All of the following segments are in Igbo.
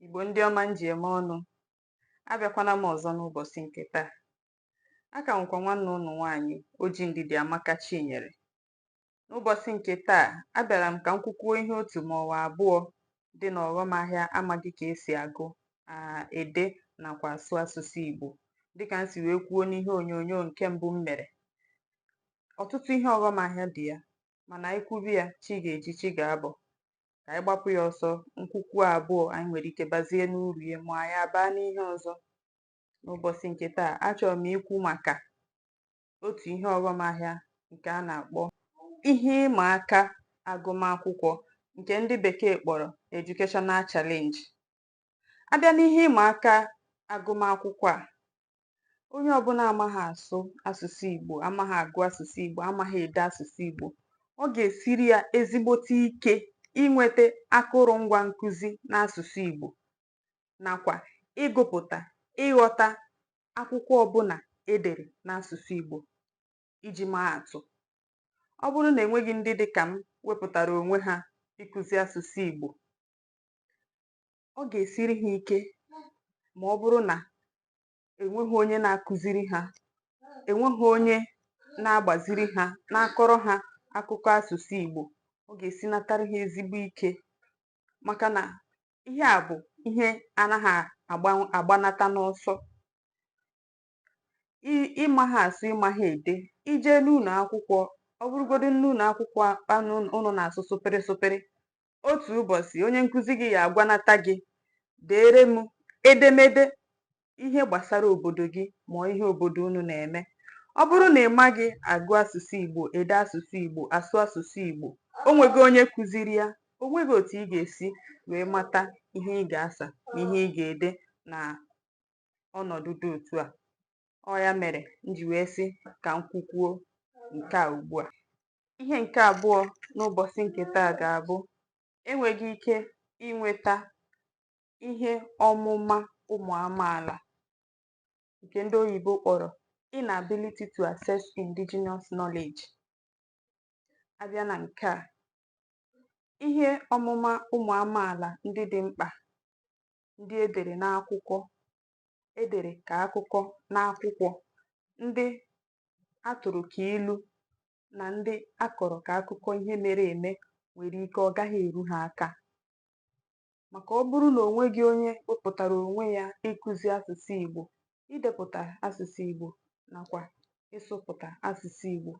Igbo ndị ọma m ji eme ọnụ, abịakwana m ọzọ n'ụbọchị nke taa. A ka nwekwa nwanne ụnụ nwaanyị Oji Ndidi Amaka Chinyere. N'ụbọchị nke taa, abịara m ka m kwukwuo ihe otu ma ọ bụ abụọ dị n'ọghọm ahịa amaghị ka esi agụ, aa, ede nakwa asụ asụsụ Igbo. Dịka m si wee kwuo n'ihe onyonyo nke mbụ m mere, ọtụtụ ihe ọghọm ahịa dị ya, mana anyị kwube ya, chi ga-eji, chi ga-abọ. kà ànyị gbapụ ya ọsọ m kwukwuo àbụọ ànyị nwèrè ike bazie n'urù ya mà ànyị àbaa n'ihe ọzọ n'ụbọchị ǹkè taa achọrọ m ikwu màkà otu ihe ọghọm ahịa ǹkè a nà-àkpọ ihe ịmà aka agụmakwụkwọ ǹkè ndị bèkeè kpọrọ educational challenge A bịa n'ihe ịma aka agụmakwụkwọ a, onye ọbụla amaghị asụ asụsụ Igbo, amaghị agụ asụsụ Igbo, amaghị ede asụsụ Igbo, ọ ga-esiri ya ezigbote ike inweta akụrụngwa nkụzi n'asụsụ Igbo nakwa ịgụpụta, ịghọta akwụkwọ ọbụla e dere n'asụsụ Igbo. Iji maa atụ, ọ bụrụ na enweghị ndị dị ka m wepụtara onwe ha ịkụzi asụsụ Igbo, ọ ga-esiri ha ike ma ọ bụrụ na enweghị onye na-akụziri ha enweghị onye na-agbaziri ha na-akọrọ ha akụkọ asụsụ Igbo ọ ga-esinatara ha ezigbo ike maka na ihe a bụ ihe anaghị agbanata n'ọsọ ị maha asụ ị maha ede i jee n'ụlọ akwụkwọ ọ bụrụgodu n'ụlọ akwụkwọ ụnụ na-asụ sụpịrị sụpịrị Otu ụbọchị, onye nkụzi gị ya agwanata gị, deere m edemede ihe gbasara obodo gị ma ihe obodo unu na-eme. Ọ bụrụ na ị maghị agụ asụsụ Igbo, ede asụsụ Igbo, asụ asụsụ Igbo, o nweghị onye kụziri ya, o nweghị otu ị ga-esi wee mata ihe ị ga-asa na ihe ị ga-ede na ọnọdụ dị otu a. Ọ ya mere m ji wee sị ka m kwukwuo nke a ugbu a. Ihe nke abụọ n'ụbọchị nke taa ga-abụ enweghị ike inweta ihe ọmụma ụmụ amaala nke ndị oyibo kpọrọ inability to access indigenous knowledge. A bịa na nke a, ihe ọmụma ụmụ amaala ndị dị mkpa ndị e dere n'akwụkwọ e dere ka akụkọ n'akwụkwọ, ndị a tụrụ ka ilu, na ndị a kọrọ ka akụkọ ihe mere eme nwere ike ọ gaghị eru ha aka. Maka ọ bụrụ na o nweghị onye wepụtara onwe ya ịkụzi asụsụ Igbo, idepụta asụsụ Igbo nakwa ịsụpụta asụsụ Igbo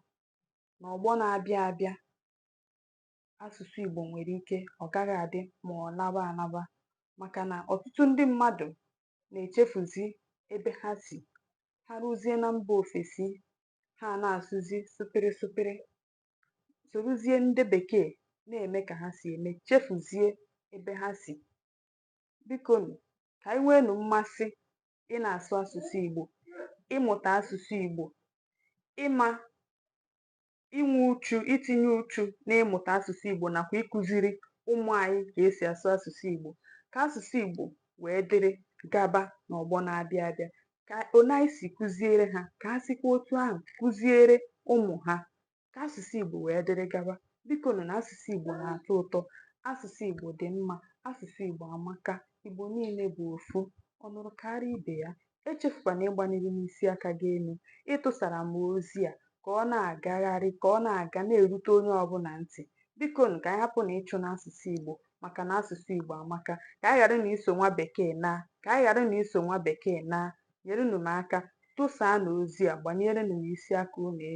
n'ọgbọ na-abịa abịa asụsụ Igbo nwere ike ọ gaghị adị ma ọ laba alaba maka na ọtụtụ ndị mmadụ na-echefuzi ebe ha si ha ruzie na mba ofesi ha na-asụzi sụpịrị sụpịrị sorozie ndị bekee na-eme ka ha si eme chefuzie ebe ha si bikonụ ka anyị nweenụ mmasị ịna-asụ asụsụ Igbo ịmụta asụsụ Igbo ịma inwe uchu itinye uchu n'ịmụta asụsụ Igbo nakwa ịkụziri ụmụ anyị ka e si asụ asụsụ Igbo ka asụsụ Igbo wee dịrị gaba n'ọgbọ na-abịa abịa ka anyị si kụziere ha ka ha sikwa otu ahụ kụziere ụmụ ha ka asụsụ Igbo wee dịrị gaba biko nụ na asụsụ Igbo na-atọ ụtọ asụsụ Igbo dị mma asụsụ Igbo amaka Igbo niile bụ ofu ọ nụrụ kaara ibe ya Echefukwana ịgbaniri m isi aka gị elu. Ịtụsara m ozi a ka ọ na-agagharị, ka ọ na-aga na-erute onye ọbụla ntị. Bikonụ, ka anyị hapụnụ ịchụna asụsụ Igbo maka na asụsụ Igbo amaka. Ka anyị gharanụ iso nwa Bekee naa. Ka anyị gharanụ iso nwa Bekee naa. Nyerenụ m aka. Tụsaanụ ozi a. Gbanierenụ m isi aka unu elu.